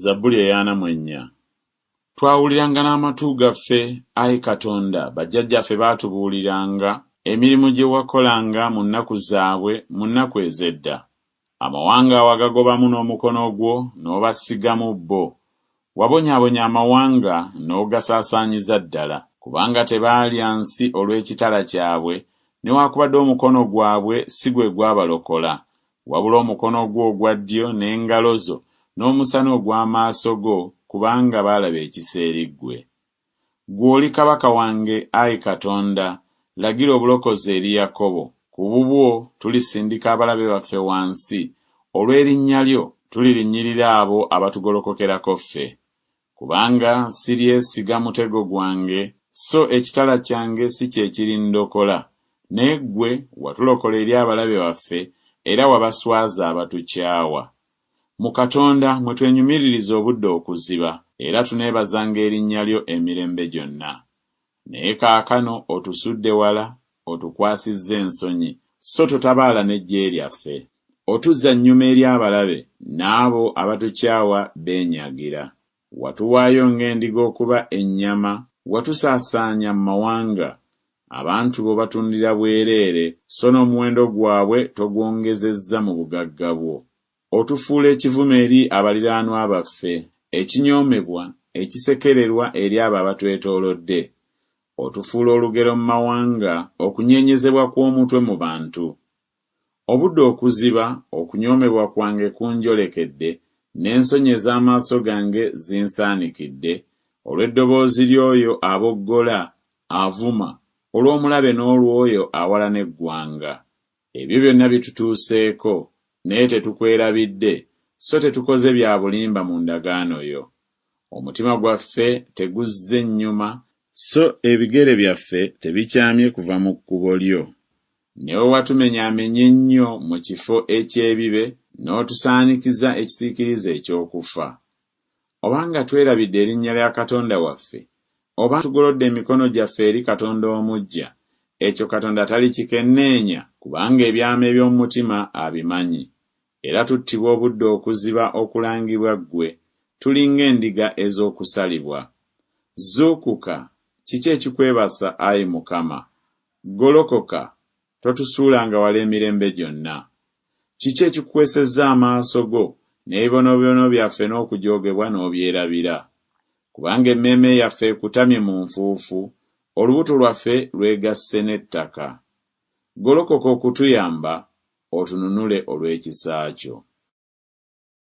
Zabbuli eyaana mu ennya. Twawuliranga n'amatu gaffe, ayi Katonda, bajjajjaffe baatubuuliranga emirimu gye wakolanga mu nnaku zaabwe, mu nnaku ez'edda. Amawanga wagagobamu n'omukono gwo, n'obasigamu bo. Wabonyaabonya amawanga, n'ogasaasaanyiza ddala, kubanga tebaalya nsi olw'ekitala kyabwe, newaakubadde omukono gwabwe si gwe gwabalokola, Wabula omukono gwo ogwa ddyo n'engalo zo n'omusana ogw'amaaso go, kubanga baalaba ekisa eri ggwe. Ggwe oli kabaka wange, ayi Katonda, lagira obulokozi eri Yakobo. Ku bubwo tulisindika abalabe baffe wansi, olw'erinnya lyo tulirinnyirira abo abatugolokokerako ffe. Kubanga siryesiga mutego gwange, so ekitala kyange si kye kirindokola. Naye ggwe watulokola eri abalabe baffe, era wabaswaza abatukyawa. Mu Katonda mwe twenyumiririza obudde okuziba, era tuneebazanga erinnya lyo emirembe gyonna. Naye kaakano otusudde wala, otukwasizza ensonyi, sso totabaala n'eggye lyaffe. Otuzza nnyuma eri abalabe, n'abo abatukyawa beenyagira. Watuwaayo ng'endiga okuba ennyama, watusaasaanya mu mawanga. Abantu bo batundira bwereere, sso n'omuwendo gwabwe togwongezezza mu bugagga bwo. Otufuula ekivume eri abaliraanwa baffe, ekinyoomebwa, ekisekererwa eri abo abatwetoolodde. Otufuula olugero mu mawanga, okunyeenyezebwa kw'omutwe mu bantu. Obudde okuziba, okunyoomebwa kwange kunjolekedde, n'ensonyi ez'amaaso gange zinsaanikidde, olw'eddoboozi ly'oyo aboggola, avuma, olw'omulabe n'olw'oyo awalana eggwanga. Ebyo byonna bitutuuseeko, naye tetukwerabidde, so tetukoze bya bulimba mu ndagaano yo. Omutima gwaffe teguzze nnyuma. So ebigere byaffe tebikyamye kuva mu kkubo lyo. Ne bwe watumenyaamenya ennyo mu kifo eky'ebibe, n'otusaanikiza ekisiikirize eky'okufa. oba nga twerabidde erinnya lya Katonda waffe, oba tugolodde emikono gyaffe eri Katonda omuggya, ekyo Katonda talikikenneenya, kubanga ebyama eby'omu mutima abimanyi, era tuttibwa obudde okuziba okulangibwa Ggwe, tuli ng'endiga ez'okusalibwa. Zuukuka! Kiki ekikwebasa, ayi Mukama? Golokoka! Totusuulanga wala emirembe gyonna. Kiki ekikukwesezza amaaso go, n'ebibonoobibono byaffe n'okujoogebwa n'obyerabira? Kubanga emmeeme yaffe ekutamye mu nfuufu, olubuto lwaffe lwegasse n'ettaka. Golokoka okutuyamba, otununule olw'ekisa kyo.